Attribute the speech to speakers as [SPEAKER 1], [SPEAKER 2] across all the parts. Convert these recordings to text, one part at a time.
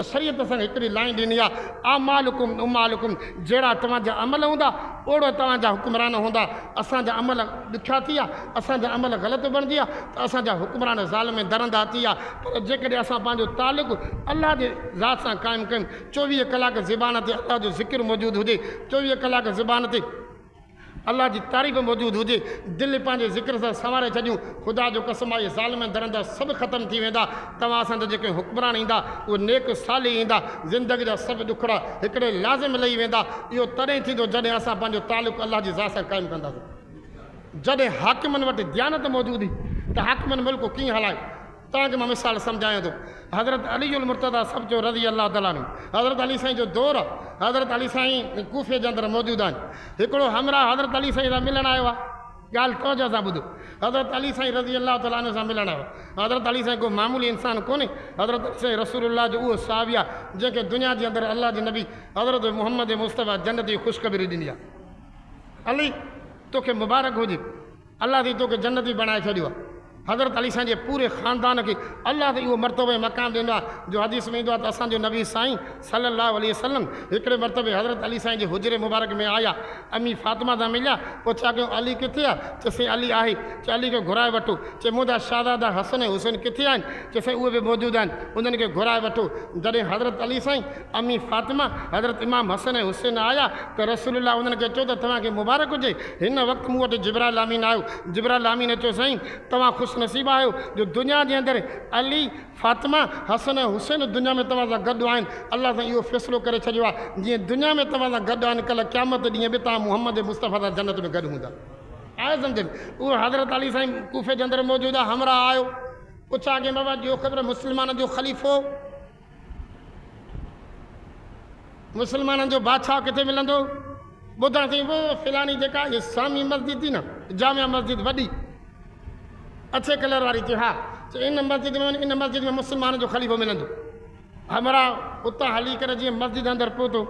[SPEAKER 1] شريعت اسان کي هڪڙي لائين ڏني آهي، اعمالڪم امالڪم، جهڙا توهان جا عمل هوندا، اوڙو توهان جا حڪمران هوندا. اسان جا عمل ڏکيا ٿي ويا، اسان جا عمل غلط بڻجي ويا ته اسان جا حڪمران ظالم ۽ درندا ٿي ويا، پر جيڪڏهن اسان پنهنجو تعلق الله جي ذات سان قائم ڪيون، چوويهه ڪلاڪ زبان تي الله جو ذڪر موجود هجي، چوويهه ڪلاڪ زبان تي. الله جي تعريف موجود هجي دل پنهنجي ذڪر سان سنواري ڇڏيون خدا جو قسم آهي ظالم ۽ درندا سڀ ختم ٿي ويندا توهان سان ته جيڪي حڪمران ايندا اهي نيڪ صالح ايندا زندگي جا سڀ ڏکڙا هڪڙي لازم لهي ويندا اهو تڏهن ئي ٿيندو جڏهن اسان پنهنجو تعلق الله جي ذات سان قائم ڪنداسين جڏهن حاڪمن وٽ ديانت موجود هئي ته حاڪمن ملڪ ڪيئن هلايو تان جو مان مثال سمجهايان ٿو حضرت علي المرتضيٰ سڀ جو رضي الله تعالٰي عنه حضرت علي سائين جو دور آ حضرت علي سائين ڪوفي جي اندر موجود آهن هڪڙو همراهه حضرت علي سائين سان ملڻ آيو آ ڳالهه توجهه سان ٻڌو حضرت علي سائين رضي الله تعالٰي عنه سان ملڻ آيو حضرت علي سائين ڪو معمولي انسان ڪونهي حضرت علي سائين رسول الله جو اهو صحابي آ جنهن کي دنيا جي اندر الله جي نبي حضرت محمد مصطفيٰ جنت جي خوشخبري ڏني آ علي توکي مبارڪ هجي. الله تي توکي جنتي بڻائي ڇڏيو آ حضرت علي سائين جي پوري خاندان کي الله تي اهو مرتبو ۽ مقام ڏنو آ جو حديث ۾ ايندو آ ته اسان جو نبي سائين صلي الله عليه وسلم هڪڙي مرتبي حضرت علي سائين جي حجري مبارڪ ۾ آيا امي فاطمه سان مليا پوء ڇا ڪيون علي ڪٿي آ چي سائين علي آهي چي علي کي گهرائي وٺو چي منهنجا شهزادا حسن ۽ حسين ڪٿي آهن چي سائين اهي به موجود آهن انهن کي گهرائي وٺو جڏهن حضرت علي سائين امي فاطمه، حضرت امام حسن ۽ حسين آيا ته رسول الله انهن کي چيو ته توهان کي مبارڪ هجي، هن وقت مون وٽ جبرائيل امين آيو، جبرائيل امين اچي چيو سائين توهان خوش نصيب آهيو جو دنيا جي اندر علي، فاطمه، حسن ۽ حسين دنيا ۾ توهان سان گڏ آهن، الله سائين اهو فيصلو ڪري ڇڏيو آهي جيئن دنيا ۾ توهان سان گڏ آهن ڪلهه قيامت ڏينهن به توهان محمد مصطفيٰ سان جنت ۾ گڏ هوندا. آهي سمجهه؟ اهو حضرت علي سائين ڪوفي جي اندر موجود آهي همراهه آيو، پڇا ڪيائين بابا ڏيو خبر مسلمانن جو خليفو. مسلمانن جو بادشاهه ڪٿي ملندو؟ ٻڌڻ تي وو فلاني جيڪا اسلامي مسجد ٿي نه جامع مسجد وڏي اڇي ڪلر واري چي ها چي ان مسجد ۾ ان مسجد ۾ مسلمانن جو خليفو ملندو همراهه اتان هلي ڪري جيئن مسجد اندر پهتو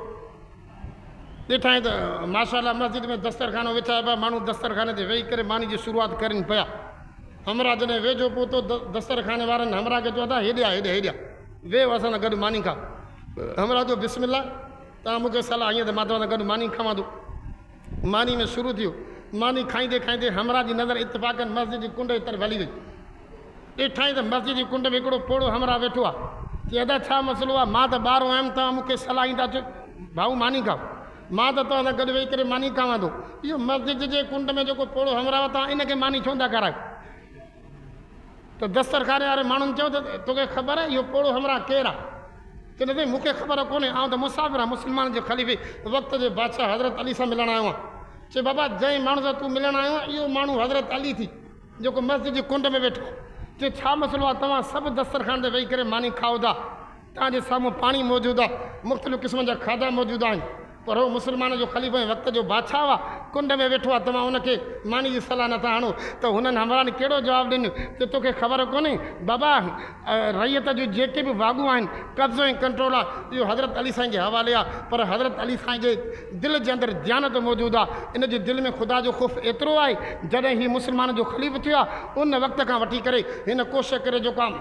[SPEAKER 1] ڏٺائين ته ماشاء الله مسجد ۾ دسترخانو وڇائي پيا، ماڻهو دسترخاني تي ويهي ڪري ماني جي شروعات ڪرين پيا. همراهه جڏهن ويجهو پهتو ته دسترخاني وارن همراهه کي چيو ته هيڏي آ، هيڏي، هيڏي آ، ويهه اسان سان گڏ ماني کاء. همراهه چيو بسم الله، توهان مون کي صلاح هنئين ته مان توهان سان گڏ ماني کاوان ٿو. ماني ۾ شروع ٿيو. ماني کائيندي کائيندي همراهه جي نظر اتفاقن مسجد جي ڪنڊ جي طرف هلي وئي. ڏٺائين ته مسجد جي ڪنڊ ۾ هڪڙو پوڙهو همراهه ويٺو آهي. چيائين ادا ڇا مسئلو آهي؟ مان ته ٻارو آهيم توهان مون کي صلاح ڏيندا ڇو؟ ڀائو ماني کاء. مان ته توهان سان گڏ ويهي ڪري ماني کاوان ٿو. اهو مسجد جي ڪنڊ ۾ جيڪو پوڙهو همراهه توهان ان کي ماني ڇو نٿا کارايو؟ ته دسترخاني واري ماڻهن چيو ته، توکي خبر آهي اهو پوڙهو همراهه ڪير آهي؟ چيو ته سائين مون کي خبر ڪونهي، آئون ته مسافر آهيان، مسلمانن جي خليفي، وقت جي بادشاهه حضرت علي سان ملڻ آيو آهيان. چيو بابا جنهن ماڻهو سان تون ملڻ آيو آهين اهو ماڻهو حضرت علي ٿي جيڪو مسجد جي ڪنڊ ۾ ويٺو آهي. چيو ڇا مسئلو آهي توهان سڀ دسترخان تي ويهي ڪري ماني کائو ٿا؟ توهان جي سامهون پاڻي موجود آهي، مختلف قسمن جا کاڌا موجود آهن، پر هو مسلمانن جو خليفو ۽ وقت جو بادشاهه آهي، ڪنڊ ۾ ويٺو آهي، توهان ان کي ماني جي صلاح نه ٿا هڻو ته هنن همراهن ڪهڙو جواب ڏنو جو توکي خبر ڪونهي بابا رعيت جون جيڪي به واڳون آهن، قبضو ۽ ڪنٽرول آهي، اهو حضرت علي سائين جي حوالي آهي، پر حضرت علي سائين جي دل جي اندر ديانت موجود آهي، ان جي دل ۾ خدا جو خوف ايترو آهي، جڏهن هي مسلمانن جو خليفو ٿيو آهي، ان وقت کان وٺي ڪري هن ڪوشش ڪري جيڪو آهي.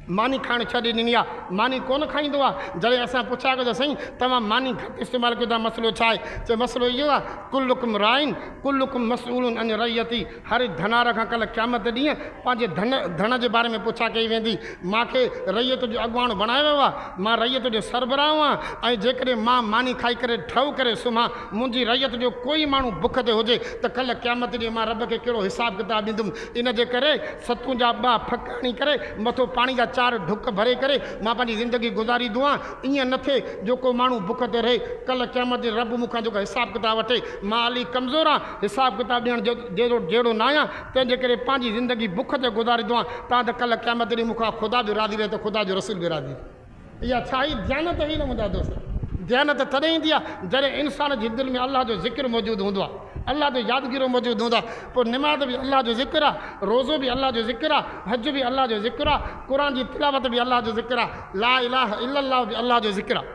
[SPEAKER 1] ماني کائڻ ڇڏي ڏني آ ماني ڪون کائيندو آ جڏهن اسان پڇيا ڪيو ته سائين توهان ماني گهٽ استعمال ڪيو ٿا مسئلو ڇا آهي چي مسئلو اهو آ ڪلڪم راعين ڪلڪم مسئولن عن رعيتي هر ڌنار کان ڪل قيامت ڏينهن پنهنجي ڌن ڌڻ جي باري ۾ پڇا ڪئي ويندي مان کي رعيت جو اڳواڻ بڻايو ويو آ مان رعيت جو سربراهه هئان ۽ جيڪڏهن مان ماني کائي ڪري ٺهه ڪري سمهان منهنجي رعيت جو ڪوئي ماڻهو بک تي هجي ته ڪل قيامت ڏينهن مان رب کي ڪهڙو حساب ڪتاب ڏيندم ان جي ڪري ستون جا ٻه ڦڪ هڻي ڪري مٿو پاڻي جا چار ڍڪ ڀري ڪري مان پنهنجي زندگي گذاري دعا ايئن نه ٿئي جو ڪو ماڻهو بک تي رهي ڪلهه قيامت ڏينهن رب مون کان جيڪو حساب ڪتاب وٺي مان علي ڪمزور آهيان حساب ڪتاب ڏيڻ جيڏو جهڙو ناهيان تنهن جي ڪري پنهنجي زندگي بک تي گذاري دعا تان ته ڪلهه قيامت ڏينهن مون کان خدا به راضي رهي ته خدا جو رسول به راضي رهي. اها ڇا هي ديانت هي نه منهنجا دوست. ديانت تڏهن ايندي آهي جڏهن انسان جي دل ۾ الله جو ذڪر موجود هوندو آهي الله جو يادگيرو موجود هوندو آهي پوء نماز به الله جو ذڪر آهي روزو به الله جو ذڪر آهي حج به الله جو ذڪر آهي قرآن جي تلاوت به الله جو ذڪر آهي لا اله الا الله به الله جو ذڪر آهي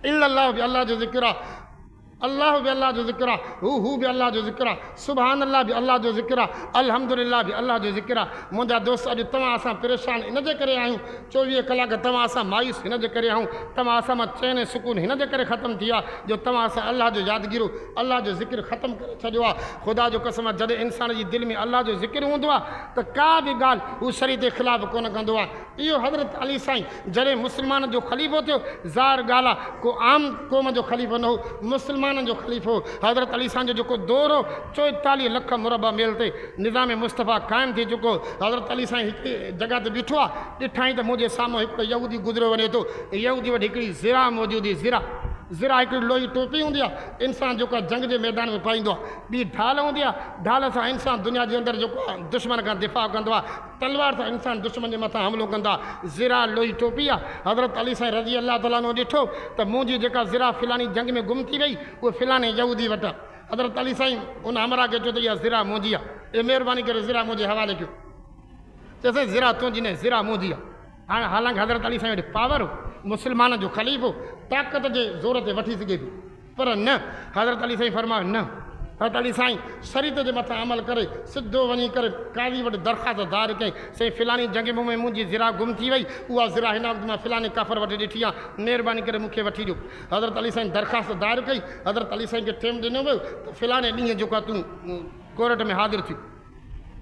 [SPEAKER 1] الا الله به الله جو ذڪر آهي الله به الله جو ذڪر آ، هو هو به الله جو ذڪر آ، سبحان الله به الله جو ذڪر آ، الحمدلله به الله جو ذڪر آ. منهنجا دوست اڄ توهان اسان پريشان ان جي ڪري آهيون، چوويهه ڪلاڪ توهان اسان مايوس هن جي ڪري آهون، توهان اسان مان چين ۽ سڪون هن جي ڪري ختم ٿي ويو آ جو توهان اسان الله جو يادگيرو، الله جو ذڪر ختم ڪري ڇڏيو آ. خدا جو قسم آ جڏهن انسان جي دل ۾ الله جو ذڪر هوندو آ ته ڪا به ڳالهه هو شريعت جي خلاف ڪونه ڪندو آ. اهو حضرت علي سائين جڏهن مسلمانن جو خليفو ٿيو، ظاهر ڳالهه آ ڪو عام قوم جو خليفو نه هو، مسلمانن جو خليفو هو. حضرت علي سائين جو جيڪو دور هو، چوئيتاليهه لک مربع ميل تي نظام مصطفيٰ قائم ٿي چڪو هو. حضرت علي سائين هڪڙي جڳهه تي بيٺو آ، ڏٺائين ته منهنجي سامهون هڪڙو يهودي گذريو وڃي ٿو. يهودي وٽ هڪڙي ذراع موجود هئي، ذراع، ذراع هڪڙي لوهي ٽوپي هوندي آ، انسان جيڪا جنگ جي ميدان ۾ پائيندو آ. ٻي ڍال هوندي آ، ڍال سان انسان دنيا جي اندر جيڪو آ دشمن کان دفاع ڪندو آ. تلوار سان انسان دشمن جي مٿان حملو ڪندا ذراع لوئي ٽوپي آ حضرت علي سائين رضي الله تعالٰي عنه ڏٺو ته مون جي جيڪا ذراع فلاني جنگ ۾ گم ٿي وئي اهي فلاني يهودي وٽ آ حضرت علي سائين ان همراهه کي چيو ته اها ذراع منهنجي آ اي مهرباني ڪري ذراع منهنجي حوالي ڪيو چيو سائين ذراع تنهنجي نه ذراع منهنجي آ هاڻ حالانڪ حضرت علي سائين وٽ پاور هو مسلمانن جو خليفو طاقت جي زور تي وٺي سگهي پيو پر نه! حضرت علي سائين فرمايو نه! حضرت علي سائين شريط جي مٿان عمل ڪري سڌو وڃي ڪري قاضي وٽ درخواست دائر ڪئي، سائين فلاني جنگ ڀومي ۾ منهنجي ذراع گم ٿي وئي، اها ذراع هن وقت مان فلاني ڪافر وٽ ڏٺي آ، مهرباني ڪري مون کي وٺي ڏيو. حضرت علي سائين درخواست دائر ڪئي، حضرت علي سائين کي ٽيم ڏنو ويو ته فلاني ڏينهن جوکا تون ڪورٽ ۾ حاضر ٿيون.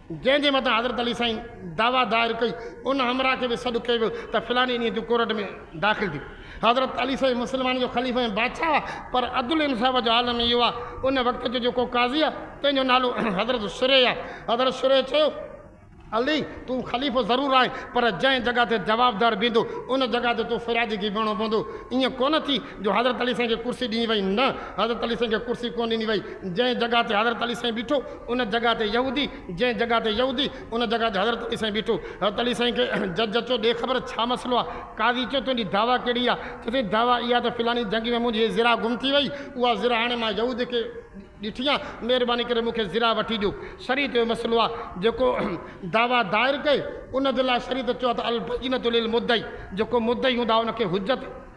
[SPEAKER 1] جنهن جي مٿان حضرت علي سائين دعويٰ دائر ڪئي، ان همراهه کي به سڏ ڪيو ويو ته فلاني ڏينهن تون ڪورٽ ۾ داخل ٿيء. حضرت علي سائين مسلمانن جو خليفو ۽ بادشاهه هئا، پر عدل ۽ انصاف جو عالم ئي اهو آ. ان وقت جو جيڪو قاضي آ، تنهن جو نالو حضرت شريح آ. حضرت شريح چيو، علي! تون خليفو ضرور آهين، پر جنهن جڳهه تي جوابدار بيهندو، ان جڳهه تي تون فريادي کي ئي بيهڻو پوندو. ائين ڪونه ٿي، جو حضرت علي سائين کي ڪرسي ڏني وئي. نه، حضرت علي سائين کي ڪرسي ڪونه ڏني وئي. جنهن جڳهه تي حضرت علي سائين بيٺو، ان جڳهه تي يهودي، جنهن جڳهه تي يهودي، ان جڳهه تي حضرت علي سائين بيٺو. حضرت علي سائين کي جج چيو، ڏي خبر ڇا مسئلو آ؟ قاضي چيو، تنهنجي دعويٰ ڪهڙي آ؟ چيسين، دعويٰ اها ته فلاڻي جنگ ۾ منهنجي هي زرا گم ٿي وئي، اها زرا هاڻي مان يهودي کي ڏٺي آ، مهرباني ڪري مون کي زرا وٺي ڏيو. شريعت جو مسئلو آ، جيڪو دعويٰ دائر ڪئي، ان جي لاء شريعت چيو آ ته البينة للمدعي، جيڪو مدعي هوندو آ، ان کي حجت،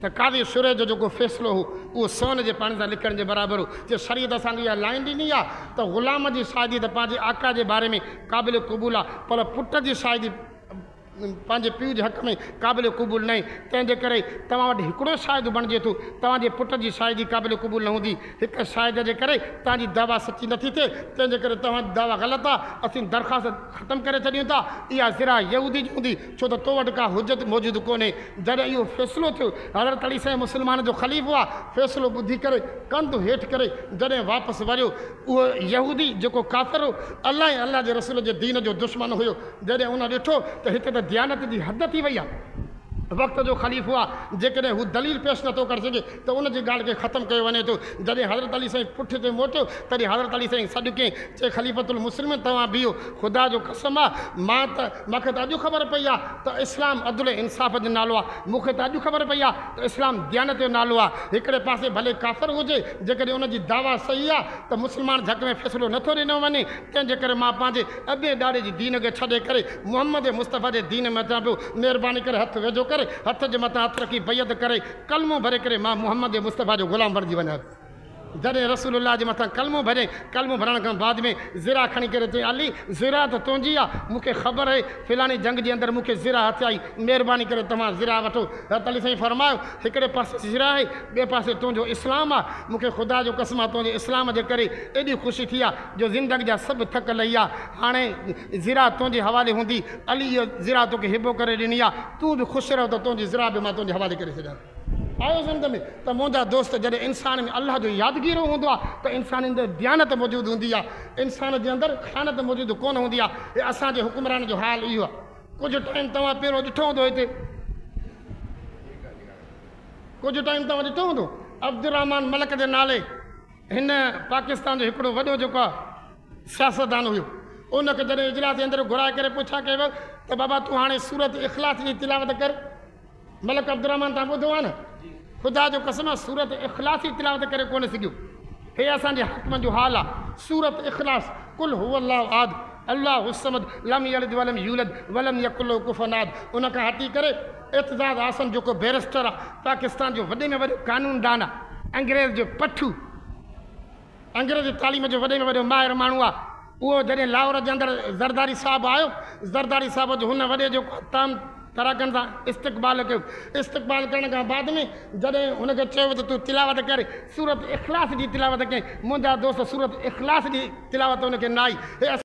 [SPEAKER 1] ته قاضي شريح جو جيڪو فيصلو هو اهو سون جي پاڻي سان لکڻ جي برابر هو جو شريعت اسان کي اها لائين ڏني آهي ته غلام جي شاهدي ته پنهنجي آقا جي باري ۾ قابل قبول آهي پر پٽ جي شاهدي پنهنجي پيء جي حق ۾ قابل قبول ناهي تنهن جي ڪري توهان وٽ هڪڙو شاهد بڻجي ٿو توهان جي پٽ جي شاهدي قابل قبول نه هوندي هڪ شاهد جي ڪري توهان جي دعويٰ سچي نٿي ٿئي تنهن جي ڪري توهان جي دعويٰ غلط آهي اسين درخواست ختم ڪري ڇڏيون ٿا اها زرع يهودي جي هوندي ڇو ته تو وٽ ڪا حجت موجود ڪونهي. جڏهن اهو فيصلو ٿيو، حضرت علي سائين مسلمانن جو خليفو آ، فيصلو ٻڌي ڪري ڪنڌ هيٺ ڪري جڏهن واپس وريو، اهو يهودي جيڪو ڪافر هو، الله ۽ الله جي رسول جي دين جو دشمن هيو، جڏهن ان ڏٺو ته هتي ته ديانت جي حد ٿي وئي آ، وقت جو خليفو آ، جيڪڏهن هو دليل پيش نٿو ڪري سگهي ته ان جي ڳالهه کي ختم ڪيو وڃي ٿو. جڏهن حضرت علي سائين پٺتي موٽيو، تڏهن حضرت علي سائين سڏ ڪيائين، چي خليفة المسلمين توهان بيهو، خدا جو قسم آ، مان ته، مان کي ته اڄ خبر پئي آ ته اسلام عدل ۽ انصاف جو نالو آ، مون کي ته اڄ خبر پئي آ ته اسلام ديانت جو نالو آ، هڪڙي پاسي ڀلي ڪافر هجي، جيڪڏهن ان جي دعويٰ صحيح آ ته مسلمان جي حق ۾ فيصلو نه ٿو ڏنو وڃي، تنهن جي ڪري مان پنهنجي ابي ڏاڏي جي دين کي ڇڏي ڪري محمد مصطفيٰ جي دين ۾ اچان پيو، مهرباني ڪري هٿ ويجهو ڪري، هٿ جي مٿان هٿ رکي بيعت ڪري، ڪلمو ڀري ڪري مان محمد مصطفيٰ جو غلام بڻجي وڃان ٿو. جڏهن رسول الله جي مٿان ڪلمو ڀريائين، ڪلمو ڀرڻ کان بعد ۾ زرا کڻي ڪري چيائين علي زرا ته تنهنجي آ، مون کي خبر آهي فلاڻي جنگ جي اندر مون کي زرا هٿ آئي، مهرباني ڪري توهان زرا وٺو. حضرت علي سائين فرمايو هڪڙي پاسي زرا آهي، ٻئي پاسي تنهنجو اسلام آ، مون کي خدا جو قسم آ تنهنجي اسلام جي ڪري ايڏي خوشي ٿي آ جو زندگي جا سڀ ٿڪ لهي آ، هاڻي ذرا تنهنجي حوالي هوندي، علي هيء ذرا توکي هبو ڪري ڏني آ، تون به خوش رهه ته تنهنجي ذرا به مان تنهنجي حوالي ڪري ڇڏيان ٿو. آيو سمجهه ۾ ته منهنجا دوست جڏهن انسان ۾ الله جو يادگيرو هوندو آ ته انسان اندر ديانت موجود هوندي آ، انسان جي اندر خيانت موجود ڪونه هوندي آ، هي اسان جي حڪمرانن جو حال اهو آ. ڪجهه ٽائيم توهان پهريون ڏٺو هوندو هتي ڪجهه ٽائيم توهان ڏٺو هوندو عبدالرحمان ملڪ جي نالي. هن پاڪستان جو هڪڙو وڏو جيڪو آ سياستدان هيو ان کي جڏهن اجلاس جي اندر گهرائي ڪري پڇا ڪئي ويو ته بابا تون هاڻي سورت اخلاص جي تلاوت ڪر ملڪ عبدالرحمان تان ٻڌو آ نه خدا جو قسم آ سورت اخلاص جي تلاوت ڪري ڪونه سگهيو هي اسان جي حاڪمن جو حال آ سورت اخلاص قل هو الله احد الله الصمد لم يلد ولم يولد ولم يڪن له کفوا احد ان کان هٽي ڪري اعتزاز اعصم جيڪو بيرسٽر آ پاڪستان جو وڏي ۾ وڏو قانون دان آ انگريز جو پٺو انگريزي تعليم جو وڏي ۾ وڏو ماهر ماڻهو آ اهو جڏهن لاهور جي اندر زرداري صاحب آيو زرداري صاحب جو هن وڏي جيڪو تام تراڪن سان استقبال ڪيو استقبال ڪرڻ کان بعد ۾ جڏهن هن کي چيو ته تون تلاوت ڪر سورت اخلاص جي تلاوت ڪئين منهنجا دوست سورت اخلاص جي تلاوت هن کي نه آئي